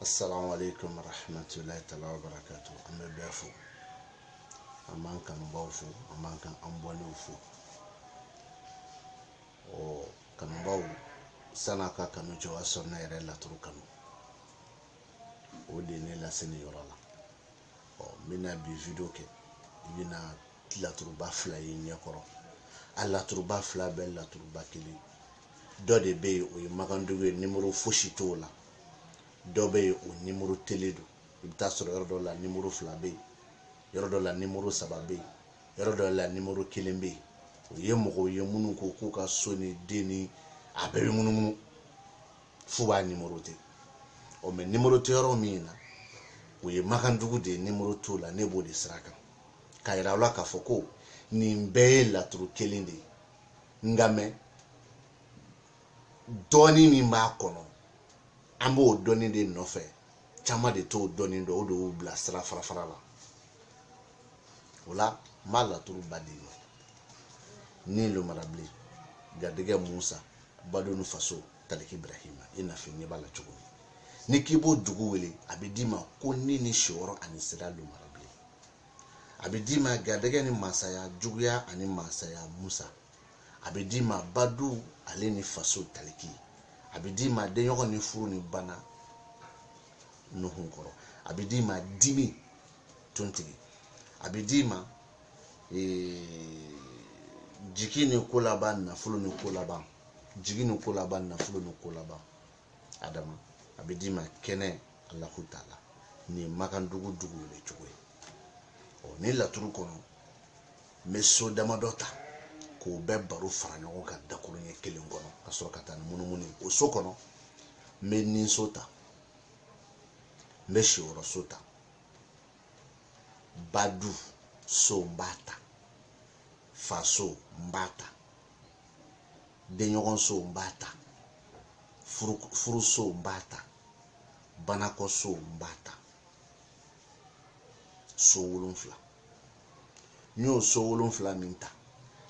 assalamu alaikum warahmatullahi ta'ala wa barakatu an bɛ bɛɛ fo an b'an kanubaw fo an b'an ka abɔnew fo ɔ kanubaw san'a ka kanu cɛ o y'a sɔrɔ ne yɛrɛ laturu kanu o de ye ne lase nin yɔrɔ la ɔ n bɛna bi video kɛ i bɛna laturuba fila y'i ɲɛkɔrɔ a laturuba fila bɛɛ laturuba kelen dɔ de bɛ yen o ye makandugu ye nimoro fosi t'o la dɔ bɛ yen o nimorotelen don i bɛ t'a sɔrɔ yɔrɔ dɔ la nimoro fila bɛ yen yɔrɔ dɔ la nimoro saba bɛ yen yɔrɔ dɔ la nimoro kelen bɛ yen o ye mɔgɔw ye minnu ko k'u ka so ni den ni a bɛɛ bɛ munumunu f'u b'a nimorote ɔ mɛ nimoro tɛ yɔrɔ min na o ye makandugu de ye nimoro t'o la ne b'o de sira kan k'a yira aw la k'a fɔ ko nin bɛɛ ye laturu kelen de ye nka mɛ dɔɔni min b'a kɔnɔ an b'o dɔɔni de nɔfɛ caman de t'o dɔɔni dɔn o de y'u bila sira fara fara la o la n b'a laturuba d'i ma ni lomarabilen garijɛgɛ musa badu ni faso taliki birahima i n'a fɔ ɲɛ b'a la cogo min ni k'i b'o dugu wele a bɛ d'i ma ko ni ni siyɔrɔ ani sira lomarabilen a bɛ d'i ma garijɛgɛ ni masaya juguya ani masaya musa a bɛ d'i ma badu ale ni faso taliki a bɛ d'i ma denɲɔgɔn ni furu ni bana nuhun kɔrɔ a bɛ d'i ma dimi tontigi a bɛ d'i ma ee, jigi ni ko laban nafolo ni ko laban jigi ni ko laban nafolo ni ko laban adama a bɛ d'i ma kɛnɛ alahu taala nin ye makandugu dugu wele cogo ye ɔ nin laturu kɔnɔ n bɛ so damadɔ ta k'o bɛɛ baro fara ɲɔgɔn kan dakuru ɲɛ kelen kɔnɔ ka sɔrɔ ka taa ni munumunu o so kɔnɔ n bɛ ninso ta n bɛ siyɔrɔso ta badu so n b'a ta faso n b'a ta denɲɔgɔnso n b'a ta furuso n b'a ta banakɔso n b'a ta so wolonfila n'i y'o so wolonfila min ta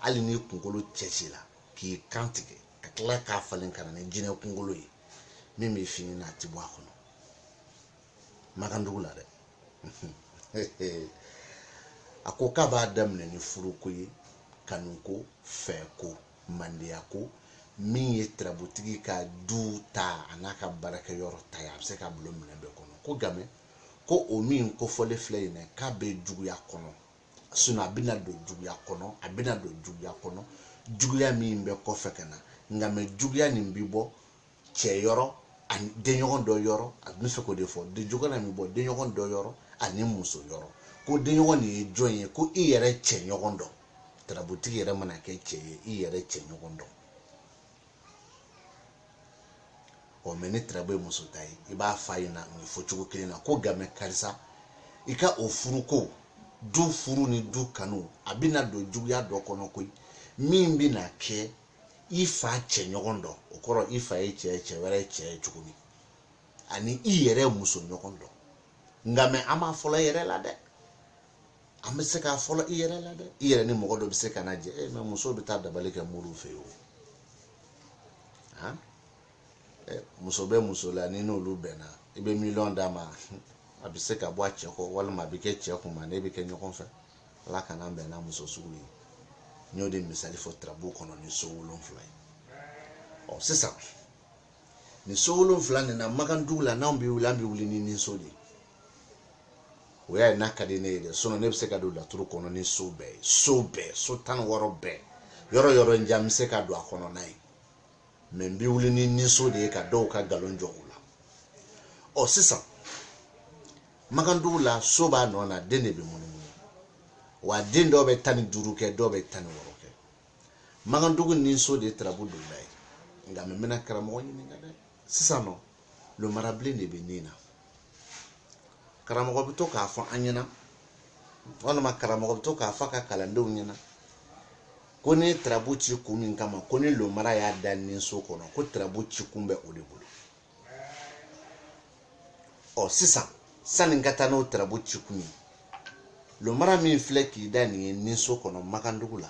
hali n'i kunkolo cɛ ci la k'i kan tigɛ ka tila k'a falen ka na ni jinɛ kunkolo ye min bɛ fini na a ti bɔ a kɔnɔ makandugu la dɛ a ko k'a b'a daminɛ ni furuko ye kanuko fɛko mandeyako min ye tirabutigi ka du ta an'a ka baarakɛyɔrɔ ta ye a bɛ se ka bulon minɛ bɛɛ kɔnɔ ko game ko o min kofɔlen filɛ yen k'a bɛ juguya kɔnɔ sinon a bɛna don juguya kɔnɔ a bɛna don juguya kɔnɔ juguya min bɛ kɔfɛ ka na quand même juguya nin bɛ bɔ cɛ yɔrɔ ani denɲɔgɔn dɔ yɔrɔ a bɛ fɛ k'o de fɔ dɛ juguya nin bɛ bɔ denɲɔgɔn dɔ yɔrɔ ani muso yɔrɔ ko denɲɔgɔn nin ye jɔn ye ko i yɛrɛ cɛ ɲɔgɔn dɔ tarabutigi yɛrɛ mana kɛ cɛ ye i yɛrɛ cɛ ɲɔgɔn dɔ ɔ mais ni tarabu ye muso ta ye i b'a f'a ɲɛna nin fɔcogo kelen na ko quand même karisa i ka o furuko du furu ni du kanu a bɛna don juguya dɔ kɔnɔ koyi min bɛna kɛ i fa cɛ ɲɔgɔn dɔ o kɔrɔ i fa ye cɛ ye cɛ wɛrɛ ye cɛ ye cogo min ani i yɛrɛ muso ɲɔgɔn dɔ quand même an b'a fɔlɔ i yɛrɛ la dɛ an bɛ se k'a fɔlɔ i yɛrɛ la dɛ i yɛrɛ ni mɔgɔ dɔ bɛ se ka na jɛ mais muso bɛ taa dabali kɛ mori fɛ o muso bɛ muso la ni n'olu bɛnna i bɛ miliyɔn d'a ma a bɛ se ka bɔ a cɛ kɔ walima a bɛ kɛ cɛ kun ma ne bɛ kɛ ɲɔgɔn fɛ ala kana an bɛn n'a muso sugu ye n y'o de misali fɔ tarabu kɔnɔ ni so wolonfila ye ɔ sisan nin so wolonfila nin na makandugu la n'anw bɛ wuli an bɛ wuli ni niso de ye o y'a ye n'a ka di ne ye dɛ sinon ne bɛ se ka don laturu kɔnɔ ni so bɛɛ ye so bɛɛ so tan ni wɔɔrɔ bɛɛ yɔrɔ yɔrɔ n ja n bɛ se ka don a kɔnɔ n'a ye mais n bɛ wuli ni niso de ye ka dɔw ka nkalon jɔ u la ɔ sisan makandugu la so b'a nɔ na den de bɛ munumunu wa den dɔw bɛ tan ni duuru kɛ dɔw bɛ tan ni wɔɔrɔ kɛ makandugu niso de ye tarabu donda ye quand même n bɛna karamɔgɔ ɲininka dɛ sisan nɔ lomarabilen de bɛ nin na karamɔgɔ bɛ to k'a fɔ an ɲɛna walima karamɔgɔ bɛ to k'a fɔ a ka kalandenw ɲɛna ko ni tarabu ci kun min kama ko ni lomara y'a da niso kɔnɔ ko tarabu ci kun bɛ o de bolo ɔ sisan sanni n ka taa n'o tarabu ci kun ye lomara min filɛ k'i da nin ye niso kɔnɔ makandugu la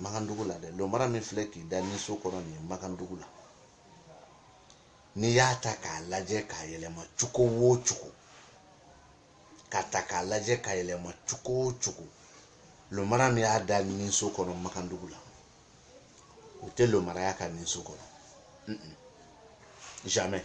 makandugu la dɛ lomara min filɛ k'i da niso kɔnɔ nin ye makandugu la n'i y'a ta k'a lajɛ k'a yɛlɛma cogo o cogo k'a ta k'a lajɛ k'a yɛlɛma cogo o cogo lomara min y'a da niso kɔnɔ makandugu la o tɛ lomara y'a ka niso kɔnɔ jamais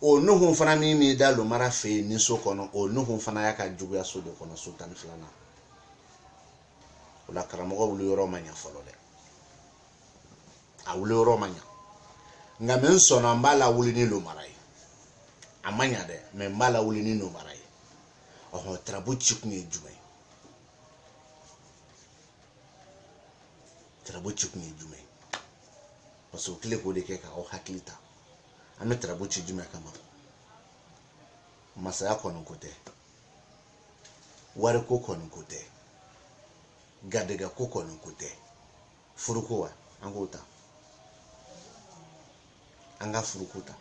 o nuhun fana min b'i da lomara fɛ yen niso kɔnɔ o nuhun fana y'a ka juguya so de kɔnɔ so tan ni filanan o la karamɔgɔ wuli yɔrɔ ma ɲa fɔlɔ dɛ a wuli yɔrɔ ma ɲa quand même n sɔnna n b'a lawuli ni lomara ye a ma ɲa dɛ mais n b'a lawuli ni lomara ye ɔhɔn tarabu ci kun ye jumɛn tarabu ci kun ye jumɛn parce que o kile k'o de kɛ k'aw hakili ta an bɛ tarabu ci jumɛn kama masaya kɔni ko tɛ wariko kɔni ko tɛ garijɛgɛko kɔni ko tɛ furuko wa an k'o ta an ka furuko ta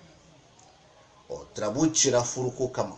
ɔ tarabu cira furuko kama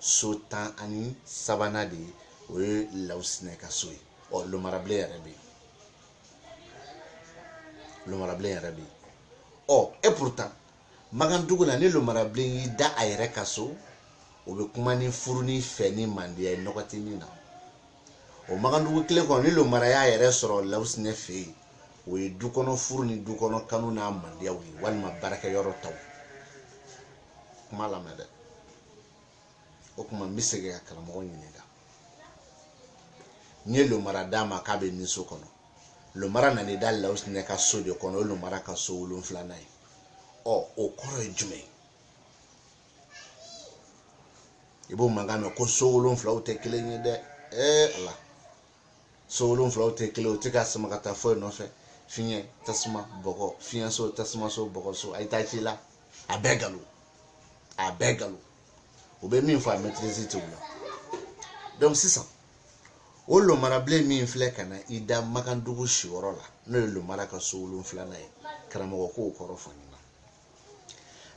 so tan ani sabanan de ye o ye lawusinɛ ka so ye ɔ lomarabilen yɛrɛ bɛ yen lomarabilen yɛrɛ bɛ yen ɔ et pourtant makandugu la ni lomarabilen y'i da a yɛrɛ ka so o bɛ kuma ni furu ni fɛ ni mandiya ye nɔgɔ tɛ min na o makandugu kelen kɔnɔ ni lomara y'a yɛrɛ sɔrɔ lawusinɛ fɛ yen o ye du kɔnɔ furu ni du kɔnɔ kanu n'a mandiyaw ye walima baarakɛyɔrɔ taw kuma lamɛn dɛ o kuma n bɛ segin ka karamɔgɔ ɲininka n ye lomara d'a ma k'a bɛ ninso kɔnɔ lomara nan'i da lawusinɛ ka so de kɔnɔ o ye lomara ka so wolonfilanan ye ɔ o kɔrɔ ye jumɛn ye i b'o mankan mɛn ko so wolonfilaw tɛ kelen ye dɛ ee ala so wolonfilaw tɛ kelen o tɛ ka sama ka taa foyi nɔfɛ fiɲɛ tasuma bɔgɔ fiɲɛ so tasuma so bɔgɔ so a ye taa ci la a bɛɛ nkalon a bɛɛ nkalon u bɛ min fɔ a maîtrise tɛ o la donc sisan o lomarabilen min filɛ ka na i da makandugu siyɔrɔ la n'o ye lomara ka so wolonfilanan ye karamɔgɔ k'o kɔrɔ fɔ n ɲɛna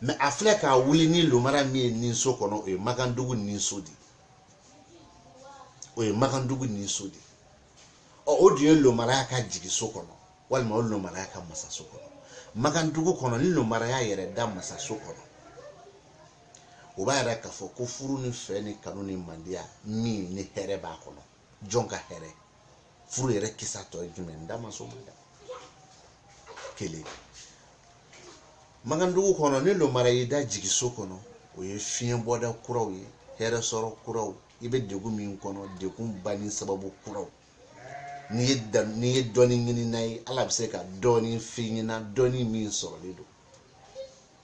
mais a filɛ k'a wuli ni lomara min ye ninso kɔnɔ o ye makandugu ninso de ye o ye makandugu ninso de ɔ o dun ye lomaraya ka jigiso kɔnɔ walima o lomaraya ka masaso kɔnɔ makandugu kɔnɔ ni lomaraya yɛrɛ da masaso kɔnɔ o b'a yira k'a fɔ ko furu ni fɛ ni kanu ni mandiya min ni hɛrɛ b'a kɔnɔ jɔn ka hɛrɛ furu yɛrɛ kisa tɔ ye jumɛn n da ma s'o ma dɛ kelen makandugu kɔnɔ ni lomara y'i da jigiso kɔnɔ o ye fiɲɛ bɔda kuraw ye hɛrɛ sɔrɔ kuraw i bɛ degun min kɔnɔ degun banni sababu kuraw n'i ye da n'i ye dɔnni ɲinina ye ala bɛ se ka dɔɔni f'i ɲɛna dɔɔni min sɔrɔlen don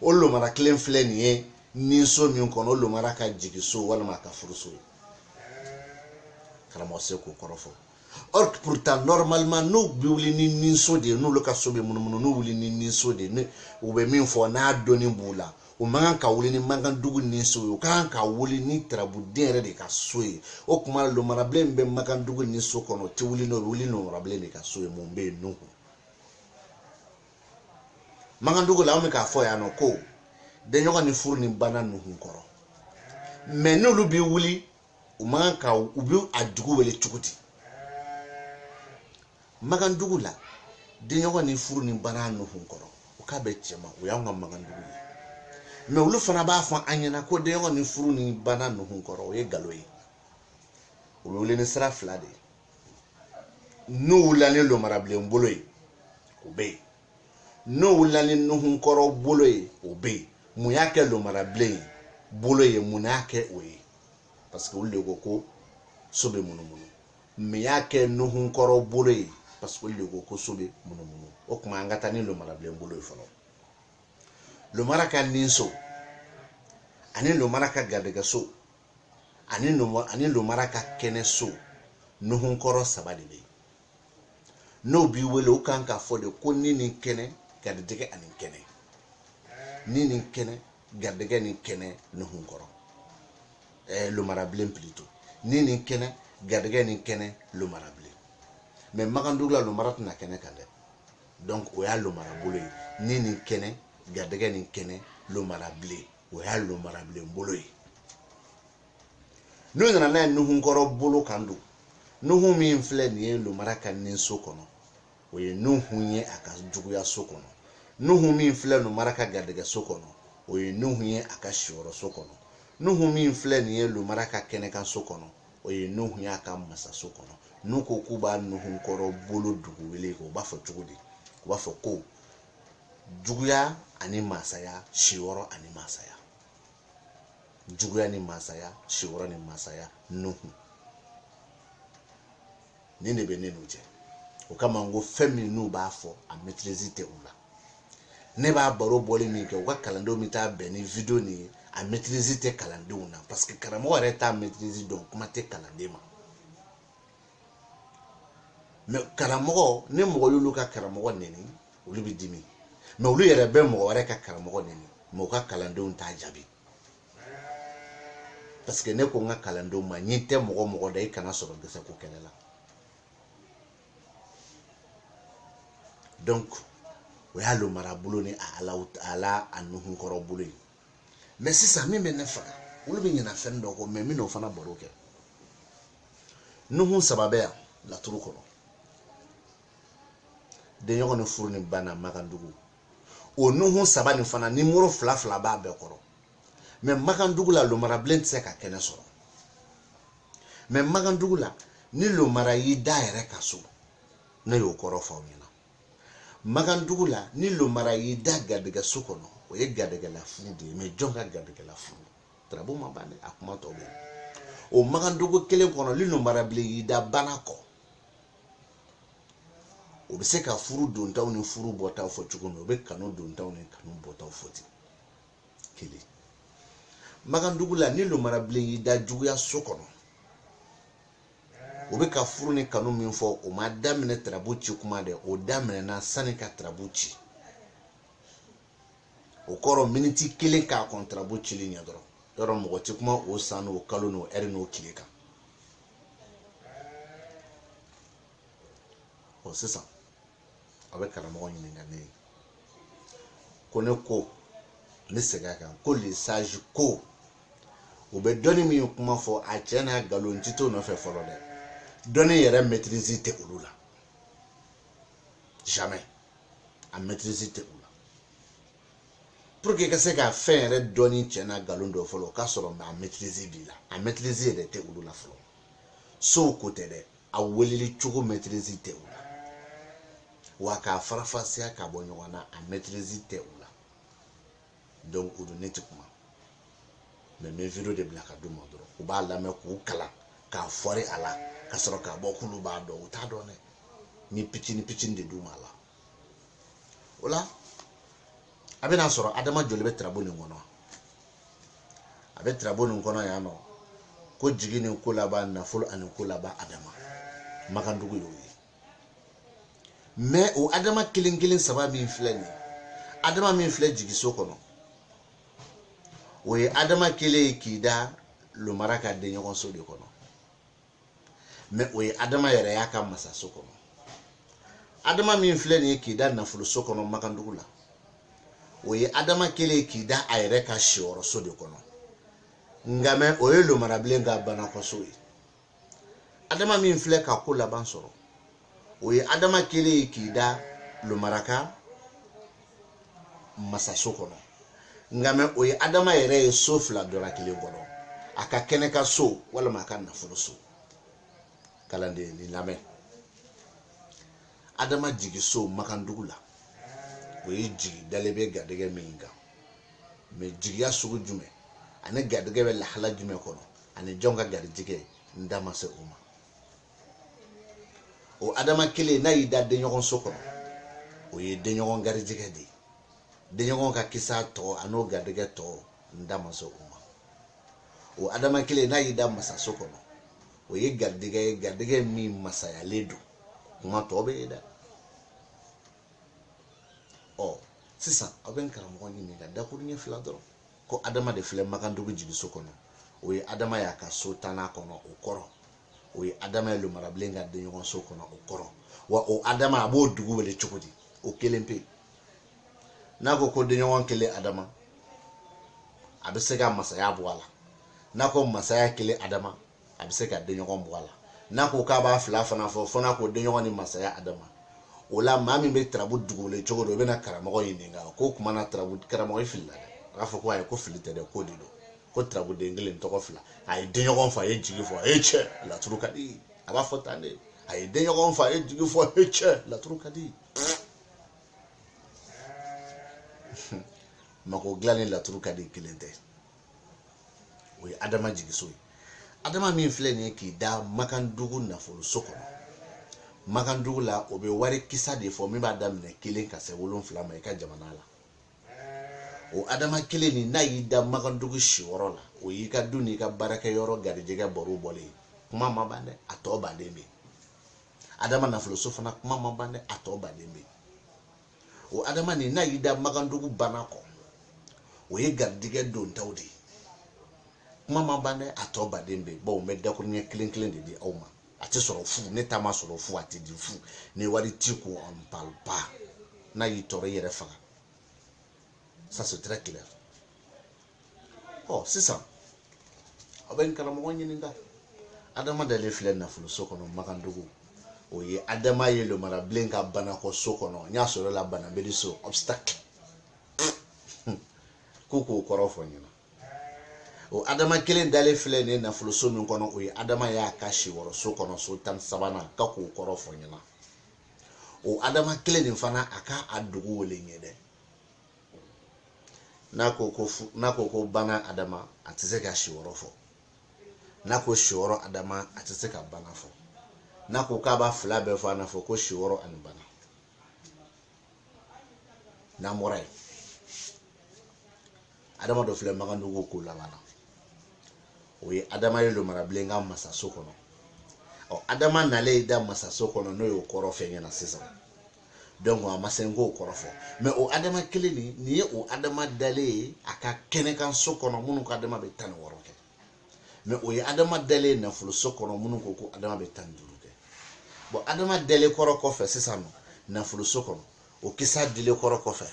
o lomara kelen filɛ nin ye ninso min kɔnɔ o lomara ka jigiso walima a ka furuso ye karamɔgɔ se k'o kɔrɔ fɔ or pourtant normalement n'u bɛ wuli ni ninso de ye n'olu ka so bɛ munumunu n'u wuli ni ninso de ye u bɛ min fɔ n'a dɔnni b'u la u man kan ka wuli ni makandugu ninso ye u ka kan ka wuli ni tarabuden yɛrɛ de ka so ye o tuma lomarabilen min bɛ makandugu ninso kɔnɔ o tɛ wuli n'o ye wuli lomarabilen de ka so ye mun bɛ yen nuhun makandugu la an bɛ k'a fɔ yan nɔ ko denɲɔgɔn ni furu ni bana nuhun kɔrɔ mais n'olu bɛ wuli u man ka u bɛ a dugu wele cogo di makandugu la denɲɔgɔn ni furu ni bana nuhun kɔrɔ o k'a bɛ cɛma o y'anw ka makandugu ye mais olu fana b'a fɔ an ɲɛna ko denɲɔgɔn ni furu ni bana nuhun kɔrɔ o ye nkalon ye o bɛ wele ni sira fila de ye n'u wulila ni lomarabilen bolo ye o bɛ yen n'u wulila ni nuhunkɔrɔ bolo ye o bɛ yen mun y'a kɛ lomarabilen bolo ye mun y'a kɛ o ye parce que olu de ko ko so bɛ munumunu mun y'a kɛ nuhunkɔrɔ bolo ye parce que olu de ko ko so bɛ munumunu o tuma an ka taa ni lomarabilen bolo ye fɔlɔ lomara ka ninso ani lomara ka garijɛgɛso ani lomara ani lomara ka kɛnɛ so nuhunkɔrɔ saba de bɛ yen n'o b'i wele o kan k'a fɔ de ko ni ni kɛnɛ garijɛgɛ ani kɛnɛ ni ni kɛnɛ garijɛgɛ ni kɛnɛ nuhunkɔrɔ ɛɛ lomarabilen plutôt ni ni kɛnɛ garijɛgɛ ni kɛnɛ lomarabilen mais makandugu la lomara tɛ na kɛnɛ kan dɛ donc o y'a lomara bolo ye ni ni kɛnɛ garijɛgɛ ni kɛnɛ lomarabilen o y'a lomarabilen bolo ye n'o nana n'a ye nuhunkɔrɔ bolo kan don nuhu min filɛ nin ye lomara ka ni so kɔnɔ o ye nuhu ye a ka juguya so kɔnɔ nuhu min filɛ lomara ka garijɛgɛ so kɔnɔ o ye nuhu ye a ka siyɔrɔ so kɔnɔ nuhu min filɛ nin ye lomara ka kɛnɛkan so kɔnɔ o ye nuhu ye a ka masaso kɔnɔ n'u ko k'u b'a nuhunkɔrɔ bolo dugu wele o b'a fɔ cogo di u b'a fɔ ko juguya ani masaya siyɔrɔ ani masaya juguya ni masaya siyɔrɔ ni masaya nuhu nin de bɛ ne n'u cɛ o kama n ko fɛn min n'u b'a fɔ a maîtrise tɛ u la ne b'a baro bɔli min kɛ u ka kalandenw bɛ taa bɛn ni video nin ye a maîtrise tɛ kalandenw na parce que karamɔgɔ yɛrɛ t'a maîtrise dɔn kuma tɛ kalanden ma mais karamɔgɔ ni mɔgɔ y'olu ka karamɔgɔ neni olu bɛ dimi mais olu yɛrɛ bɛ mɔgɔ wɛrɛ ka karamɔgɔ neni mais u ka kalandenw t'a jaabi parce que ne ko n ka kalandenw ma ɲin tɛ mɔgɔ mɔgɔ da i kana sɔrɔ gɛsɛ ko kɛlɛ la donc o y'a lomara bolo ni a ala a la a nuhunkɔrɔ bolo ye mais sisan min bɛ ne faga olu bɛ ɲina fɛn dɔ kɔ mais n bɛn'o fana baro kɛ nuhun saba bɛ yan laturu kɔnɔ denɲɔgɔn ni furu ni bana makandugu o nuhun saba nin fana ni muru fila fila b'a bɛɛ kɔrɔ mais makandugu la lomarabilen tɛ se ka kɛnɛ sɔrɔ mais makandugu la ni lomara y'i da yɛrɛ ka so ne y'o kɔrɔ fɔ aw ɲɛna makan dugu la ni lomara y'i da garijɛgɛ so kɔnɔ o ye garijɛgɛla furu de ye mɛ jɔn ka garijɛgɛla furu tarabu ma ban dɛ a kuma tɔ bɛ o makan dugu kelen kɔnɔ ni lomara bilen y'i da bana kɔ o bɛ se ka furu dontaw ni furu bɔtaw fɔ cogo min o bɛ kanu dontaw ni kanu bɔtaw fɔ ten kelen makan dugu la ni lomara bilen y'i da juguya so kɔnɔ o bɛ ka furu ni kanu min fɔ o ma daminɛ tarabu ci kuma dɛ o daminɛna sani ka tarabu ci o kɔrɔ miniti kelen k'a kɔn tarabu cili ɲɛ dɔrɔn yɔrɔ mɔgɔ tɛ kuma o san n'o kalo n'o ɛri n'o tile kan ɔ sisan a bɛ karamɔgɔ ɲininka ne ye ko ne ko ne segin a kan ko lesaji ko u bɛ dɔnni min kuma fɔ a cɛn n'a nkalon ti to nɔfɛ fɔlɔ dɛ dɔnni yɛrɛ mɛtirizi tɛ olu la jamais a mɛtirizi tɛ u la pour que i ka se ka fɛn yɛrɛ dɔnni cɛn n'a nkalon dɔn fɔlɔ o k'a sɔrɔ a mɛtirizi b'i la a mɛtirizi yɛrɛ tɛ olu la fɔlɔ sow ko tɛ dɛ a weleli cogo mɛtirizi tɛ u la wa k'a farafasiya ka bɔ ɲɔgɔn na a mɛtirizi tɛ u la donc o don ne tɛ kuma mɛ n bɛ video de bila ka d'u ma dɔrɔn u b'a lamɛn k'u kalan ka fɔri a la ka sɔrɔ k'a bɔ k'olu b'a dɔn u t'a dɔn dɛ n bɛ pitini pitini de d'u ma a la o la a bɛna sɔrɔ adama joli bɛ tirabu nin kɔnɔ a bɛ tirabu nin kɔnɔ yan nɔ ko jigi ni ko laban nafolo ani ko laban adama makandugu y'o ye mɛ o adama kelen kelen saba min filɛ nin adama min filɛ jigiso kɔnɔ o ye adama kelen ye k'i da lomara ka denɲɔgɔnso de kɔnɔ mɛ o ye adama yɛrɛ y'a ka masaso kɔnɔ adama min filɛ nin ye k'i da nafoloso kɔnɔ makandugu la o ye adama kelen ye k'i da a yɛrɛ ka siyɔrɔso de kɔnɔ nka mɛ o ye lomarabilen ka banakɔso ye adama min filɛ ka ko laban sɔrɔ o ye adama kelen ye k'i da lomara ka masaso kɔnɔ nka mɛ o ye adama yɛrɛ ye so fila dɔ la kelen kɔnɔ a ka kɛnɛ ka so walima a ka nafolo so kalanden ne lamɛn adama jigiso makandugu la o ye jigi dalen bɛ garijɛgɛ min kan mɛ jigiya sugu jumɛn ani garijɛgɛ bɛ lahala jumɛn kɔnɔ ani jɔn ka garijɛgɛ n da ma se o ma o adama kelen n'a y'i da denɲɔgɔn so kɔnɔ o ye denɲɔgɔn garijɛgɛ de ye denɲɔgɔn ka kisa tɔgɔ a n'o garijɛgɛ tɔgɔ n da ma se o ma o adama kelen n'a y'i da masaso kɔnɔ o ye garijɛgɛ ye garijɛgɛ min masayalen don kuma tɔ bɛ yen dɛ ɔ sisan aw bɛ n karamɔgɔ ɲininka dakuruɲɛ fila dɔrɔn ko adama de filɛ makandugu jigiso kɔnɔ o ye adama y'a ka so tannan kɔnɔ o kɔrɔ o ye adama ye lomarabilen ka denɲɔgɔnso kɔnɔ o kɔrɔ wa o adama a b'o dugu wele cogo di o kelen pe n'a ko ko denɲɔgɔn kelen adama a bɛ se ka masaya bɔ a la n'a ko masaya kelen adama a bɛ se ka denɲɔgɔn bɔ a la n'a ko k'a b'a fila fana fɔ fo n'a ko denɲɔgɔn ni masaya adama o la maa min bɛ tarabu dugu wele cogo don o bɛna karamɔgɔ ɲininka ko o kuma na tarabu karamɔgɔ filila dɛ a b'a fɔ ko ayi ko fili tɛ dɛ k'o de don ko tarabuden kelen tɔgɔ fila a ye denɲɔgɔn fɔ a ye jigi fɔ e cɛ laturu ka di a b'a fɔ tan de a ye denɲɔgɔn fɔ a ye jigi fɔ e cɛ laturu ka di mako dilan ni laturu ka di kelen tɛ o ye adama jigiso ye adama min filɛ nin ye k'i da makandugu nafoloso kɔnɔ makandugu la o bɛ wari kisa de fɔ min b'a daminɛ kelen ka se wolonfila ma i ka jamana la o adama kelen nin n'a y'i da makandugu siyɔrɔ la o y'i ka du n'i ka baarakɛ yɔrɔ garijɛgɛ bɔrɔ bɔlen kuma ma ban dɛ a tɔba de bɛ adama nafoloso fana kuma ma ban dɛ a tɔba de bɛ o adama nin n'a y'i da makandugu banakɔ o ye garijɛgɛ dontaw de ye kuma ma ban dɛ a tɔba de bɛ bawo n bɛ dakuruɲɛ kelen kelen de di aw ma a tɛ sɔrɔ fu ne ta ma sɔrɔ fu a tɛ di fu ni wari t'i kun on parle pas n'a y'i tɔɔrɔ i yɛrɛ faga ça c'est très clair ɔ sisan aw bɛ n karamɔgɔ ɲininka adama dalen filɛ nafoloso kɔnɔ makandugu o ye adama ye lomarabilen ka banakɔ so kɔnɔ n y'a sɔrɔ la banabeli so obstacle k'u k'o kɔrɔ fɔ n ɲɛna o adama kelen dalen filɛ nin nafoloso min kɔnɔ o ye adama y'a ka siwɔrɔ so kɔnɔ so tan sabanan k'a k'o kɔrɔ fɔ n ɲɛna o adama kelen nin fana a ka a dugu wele ɲɛ dɛ n'a ko ko bana adama a tɛ se ka siwɔrɔ fɔ n'a ko siwɔrɔ adama a tɛ se ka bana fɔ n'a ko k'a b'a fila bɛɛ fɔ a n'a fɔ ko siwɔrɔ ani bana n'an bɔra yen adama dɔ filɛ makandugu kolaban na o ye adama ye lomarabilen ka masaso kɔnɔ ɔ adama nalen da masaso kɔnɔ n'o y'o kɔrɔ fɔ n ɲɛna sisan donc a ma se n k'o kɔrɔ fɔ mais o adama kelen nin nin ye o adama dalen ye a ka kɛnɛkanso kɔnɔ minnu ka adama bɛ tan ni wɔɔrɔ kɛ mɛ o ye adama dalen ye nafoloso kɔnɔ minnu ko ko adama bɛ tan duuru kɛ bɔn adama dalen kɔrɔ kɔfɛ sisan nɔ nafoloso kɔnɔ o kisa dilen kɔrɔ kɔfɛ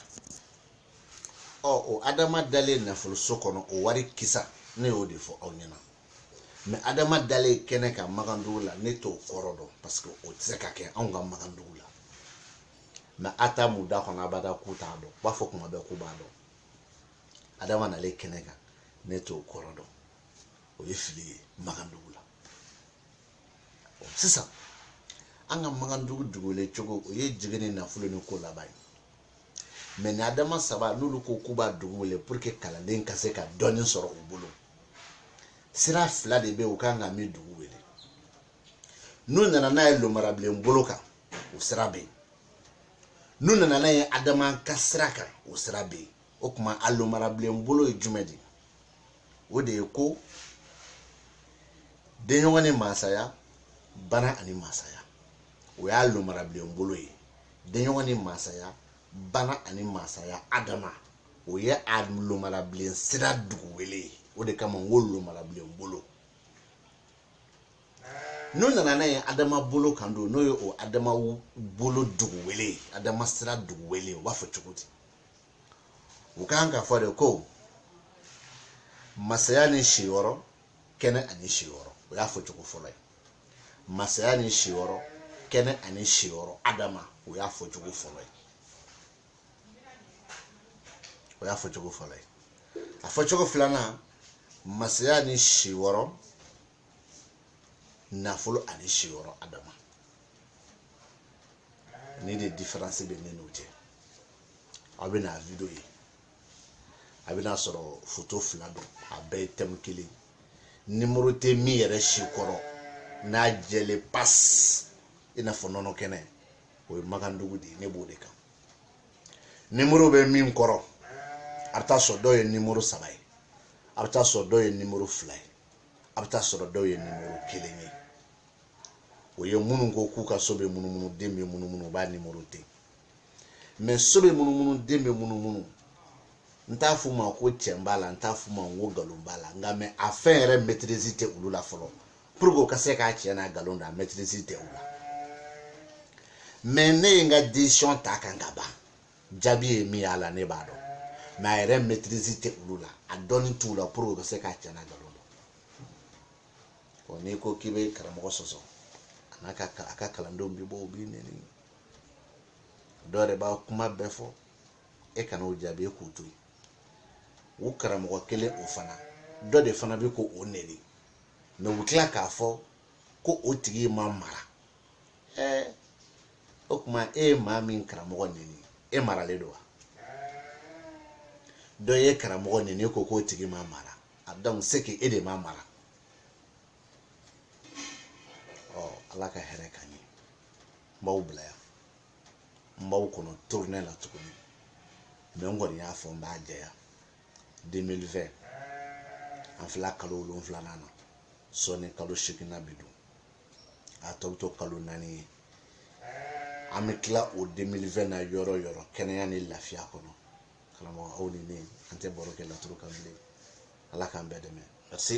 ɔ o adama dalen nafoloso kɔnɔ o wari kisa ne y'o de fɔ aw ɲɛna mɛ adama dalen kɛnɛ kan makandugu la ne t'o kɔrɔ dɔn parce que o tɛ se ka kɛ anw ka makandugu la mɛ a t'a mɛn u da kɔnɔ abada k'u t'a dɔn u b'a fɔ kuma bɛɛ k'u b'a dɔn adama nalen kɛnɛ kan ne t'o kɔrɔ dɔn o ye fili ye makandugu la sisan an ka makandugu dugu wele cogo o ye jigi ni nafolo ni ko laban ye mɛ ni adama saba n'olu ko k'u b'a dugu wele pour que kalanden ka se ka dɔɔni sɔrɔ u bolo sira fila de bɛ yen u kan ka min dugu wele n'u nana n'a ye lomarabilen bolo kan o sira bɛ yen n'u nana n'a ye adama ka sira kan o sira bɛ yen o tuma a lomarabilen bolo ye jumɛn de o de ye ko denɲɔgɔn ni masaya bana ani masaya o y'a lomarabilen bolo ye denɲɔgɔn ni masaya bana ani masaya adama o ye a lomarabilen sira dugu wele ye o de kama n ko lomarabilen bolo n'u nana n'a ye adama bolo kan don n'o ye o adama bolo dugu wele ye adama sira dugu wele ye u b'a fɔ cogo di u kan k'a fɔ de ko masaya ni siyɔrɔ kɛnɛ ani siyɔrɔ o y'a fɔ cogo fɔlɔ ye masaya ni siyɔrɔ kɛnɛ ani siyɔrɔ adama o y'a fɔ cogo fɔlɔ ye o y'a fɔ cogo fɔlɔ ye a fɔ cogo filanan masaya ni siyɔrɔ nafolo ani siyɔrɔ adama nin de diferansi bɛ ne n'u cɛ aw bɛna video ye a bɛn'a sɔrɔ foto fila don a bɛɛ ye tɛmu kelen nimoro tɛ min yɛrɛ si kɔrɔ n'a jɛlen pasi i n'a fɔ nɔnɔ kɛnɛ o ye makandugu de ye ne b'o de kan nimoro bɛ min kɔrɔ a bɛ taa sɔrɔ dɔw ye nimoro saba ye a bɛ taa sɔrɔ dɔw ye nimoro fila ye a bɛ taa sɔrɔ dɔw ye nimoro kelen ye o ye minnu ko k'u ka so bɛ munumunu den bɛ munumunu u b'a nimoro ten mɛ so bɛ munumunu den bɛ munumunu n t'a f'u ma ko cɛn b'a la n t'a f'u ma ko nkalon b'a la nka mɛ a fɛn yɛrɛ mɛtirizi tɛ olu la fɔlɔ puruke u ka se k'a cɛn n'a nkalon dɔn a mɛtirizi tɛ u la mɛ ne ye n ka desizɔn ta ka ban jaabi ye min y'a la ne b'a dɔn mais a yɛrɛ maîtrise tɛ olu la a dɔnni t'u la pour que u ka se k'a cɛn n'a nkalon dɔn n'i ko k'i bɛ karamɔgɔ sɔsɔ a n'a ka a ka kalandenw bɛ bɔ u b'i nɛni dɔw yɛrɛ b'a kuma bɛɛ fɔ e kana o jaabi e k'u to yen u karamɔgɔ kelen o fana dɔ de fana bɛ k'o nɛni mais u tila k'a fɔ ko o tigi ma mara ɛɛ o tuma e ye maa min karamɔgɔ neni e maralen don wa dɔ ye karamɔgɔ neni e ko k'o tigi ma mara a donc c'est que e de ma mara ɔ ala ka hɛrɛ k'an ye n b'aw bila yan n b'aw kɔnɔ tournée la tuguni mais n kɔni y'a fɔ n b'a jɛya 2020 an filɛ kalo wolonfilanan na sɔɔni kalo seginnan bɛ don a tɔ bɛ to kalo naani ye an bɛ tila o 2020 na yɔrɔ o yɔrɔ kɛnɛya ni lafiya kɔnɔ karamɔgɔ aw ni ne an tɛ baro kɛ laturu kan bilen ala k'an bɛɛ dɛmɛ merci